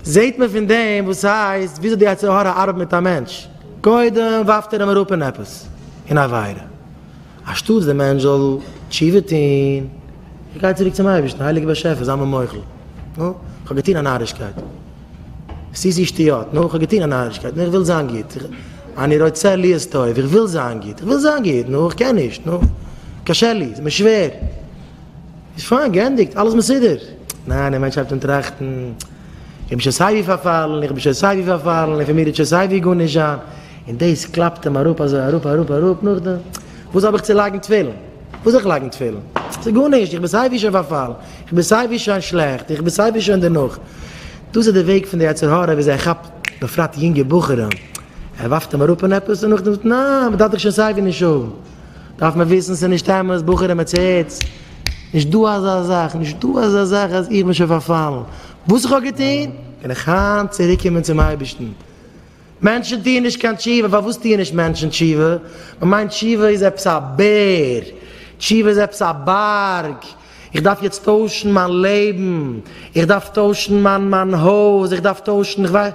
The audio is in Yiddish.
זעהט מען פון דעם וואס הייסט וויאזוי די יצר הרע ארבעט מיט א מענטש, קודם ווארפט ער אים אראפ אין עפעס, אין א עבירה, אנשטאטס דער מענטש זאל תשובה טוהן, ער גייט צוריק צום אייבערשטן, הייליגער באשעפער זיי מיר מוחל, נו, כ'האב געטוהן א נארישקייט, סיסי שטויות, נו, כ'האב געטוהן א נארישקייט, נו, איך וויל זיין גוט, אני רוצה להיות טוב, איך וויל זיין גוט, איך וויל זיין גוט, נו, איך קען נישט, נו, קשה לי, ס'איז מיר שווער. איז פיין געענדיגט, אלעס מסודר. ניין, דער מענטש הייבט אן טראכטן, איך בין שוין סייווי פארפאלן, איך בין שוין סייווי פארפאלן, און פון מיר איז שוין סייווי גארנישט זיין, און דאס קלאפט אים אראפ אזוי אראפ אראפ אראפ, נאכדעם וואס האב איך צו לייגן תפילין? וואס זאל איך לייגן תפילין? ס'איז גארנישט, איך בין סייווי שוין פארפאלן, איך בין סייווי שוין שלעכט, איך בין סייווי שוין דערנאך. דאס איז די וועג פון די יצר הרע וויאזוי ער כאפט בפרט יונגע בחורים, ער ווארפט אים אראפ אין עפעס און נאכדעם זאגט, ניין, מ'דארף דיך שוין סייווי נישט האבן. דארף מען וויסן ס'איז נישט אמת, בחורים האטס הערטס, נישט דא אזא זאך, נישט דא אזא זאך אז איך בין שוין פארפאלן, וואס איך האב געטון קען איך היינט צוריק קומען צום אייבערשטן, מענטשן טוען נישט קיין תשובה, פארוואס טוען נישט מענטשן תשובה, מען מיינט תשובה איז עפעס א בער, תשובה איז עפעס א בארג, איך דארף יעצט טוישן מיין לעבן, איך דארף טוישן מיין הויז, איך דארף טוישן איך ווייס.